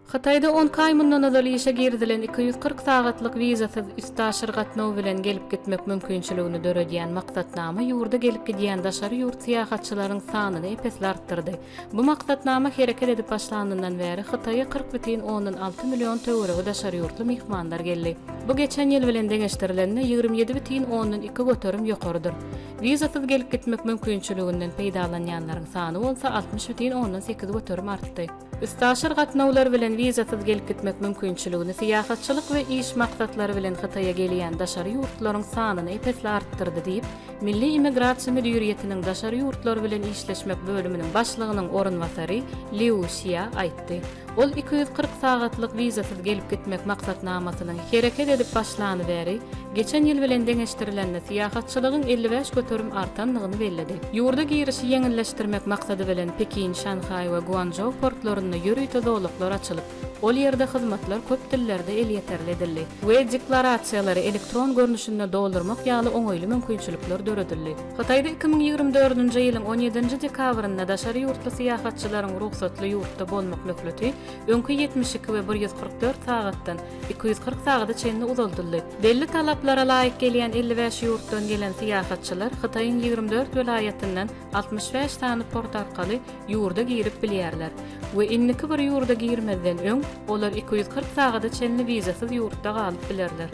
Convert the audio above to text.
Hytaýda onki aý mundan ozal işe girizilen iki ýüz kyrk sagatlyk wizasyz üstaşyr gatnaw bilen gelip-gitmek mümkinçiligini döredýän maksatnama ýurda gelip-gidýän daşary ýurt syýahatçylaryň sanyny ep-esli artdyrdy. Bu maksatnama hereket edip başlanyndan bäri Hytaýa kyrk bütin ondan alty million töweregi daşary ýurtly myhmanlar geldi. Bu geçen ýyl bilen deňeşdirilende ýigrimi ýedi bütin ondan iki göterim ýokarydyr. Wizasyz gelip-gitmek mümkinçiliginden peýdalanýanlaryň sany bolsa altmyş bütin ondan sekiz göterim artdy. Üstaşyr gatnawlar bilen wizasyz gelip gitmek mümkinçiligini syýahatçylyk we iş maksatlary bilen Hytaýa gelýän daşary ýurtlaryň sanyny ep-esli artdyrdy diýip, Milli immigrasiýa müdiriýetiniň daşary ýurtlar bilen işleşmek bölüminiň başlygynyň orunbasary Liu Xia aýtdy. Ol iki ýüz kyrk sagatlyk wizasyz gelip gitmek maksatnamasynyň hereket edip başlany bäri, Geçen ýyl bilen deňeşdirilende, syýahatçylygyň elli bäş göterim artandygyny belledi. Ýurda girişi ýeňilleşdirmek maksady bilen Pekin, Şanhaý we Guançžou portlarynda ýörite zolaklar açylyp, ol ýerde hyzmatlar köp dillerde elýeterli edildi we deklarasiýalary elektron görnüşinde doldurmak ýaly oňaýly mümkinçilikler döredildi. Hytaýda iki müň ýigrimi dördünji ýylyň on ýedinji dekabrynda daşary ýurtly syýahatçylaryň rugsatly ýurtda bolmak möhleti öňki ýetmiş iki we bir ýüz kyrk dört sagatdan iki ýüz kyrk sagada çenli uzaldyldy. Belli talaplara laýyk gelýän elli bäş ýurtdan gelen syýahatçylar Hytaýyň ýigrimi dört welaýatyndan altmyş bäş sany port arkaly ýurda girip bilýärler we indiki bir ýurda girmezden öň olar iki ýüz kyrk sagada çenli wizasyz ýurtda galyp bilerler.